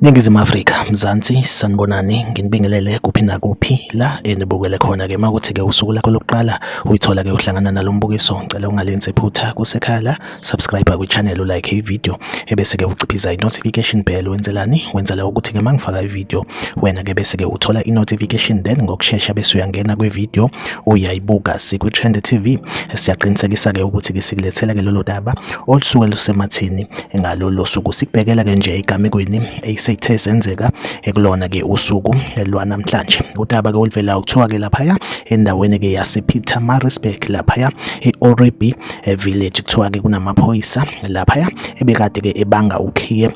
Ningizimu Afrika, Mzansi, sanibonani, nginibingelele kuphi nakuphi la enibukele khona-ke uma kuthi-ke usuku lakho lokuqala uyithola-ke uhlangana nalo mbukiso, ngicela ungalenzi iphutha kusekhaya la. subscribe kwichannel ulike ivideo ebese-ke uciphiza i-notification bell wenzelani wenzela ukuthi-ke uma ngifaka ivideo wena-ke bese-ke uthola i-notification then ngokushesha bese uyangena kwivideo uyayibuka sikwi-trend tv siyaqinisekisa-ke ukuthi-ke sikulethela-ke lolo daba olusuke lusemathini ngalolo suku sikubhekela-ke nje egamekweni eyisethe senzeka ekulona-ke usuku lwanamhlanje udaba-ke oluvelayo kuthiwa-ke laphaya endaweni-ke yasepeter marisburg laphaya e-oribi village kuthiwa ke kunamaphoyisa laphaya ebekade ke ebanga ukhiye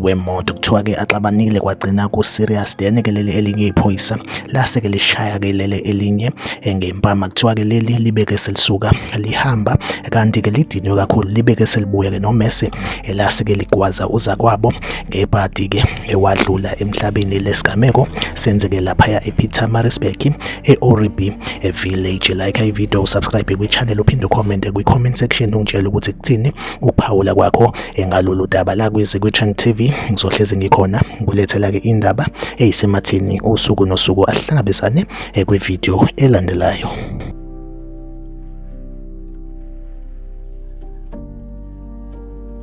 wemoto kuthiwa ke axabanile kwagcina ku serious then ke leli elinye iphoyisa lase ke lishaya ke lele elinye ngempama kuthiwa ke leli libeke selisuka lihamba kanti ke lidinwe kakhulu libeke selibuya ke nomese elase ke ligwaza uza kwabo ngebhadi ke ewadlula emhlabeni lesigameko senzeke laphaya ePietermaritzburg e-orb village like ivideo usubscribe kwichannel uphinde ucommente kwi-comment section ungitshele ukuthi kuthini ukuphawula kwakho ngalolu daba la kwize kwi-channel tv ngizohlezi ngikhona ngulethela-ke indaba eyisemathini usuku nosuku ahlangabezane kwivideo elandelayo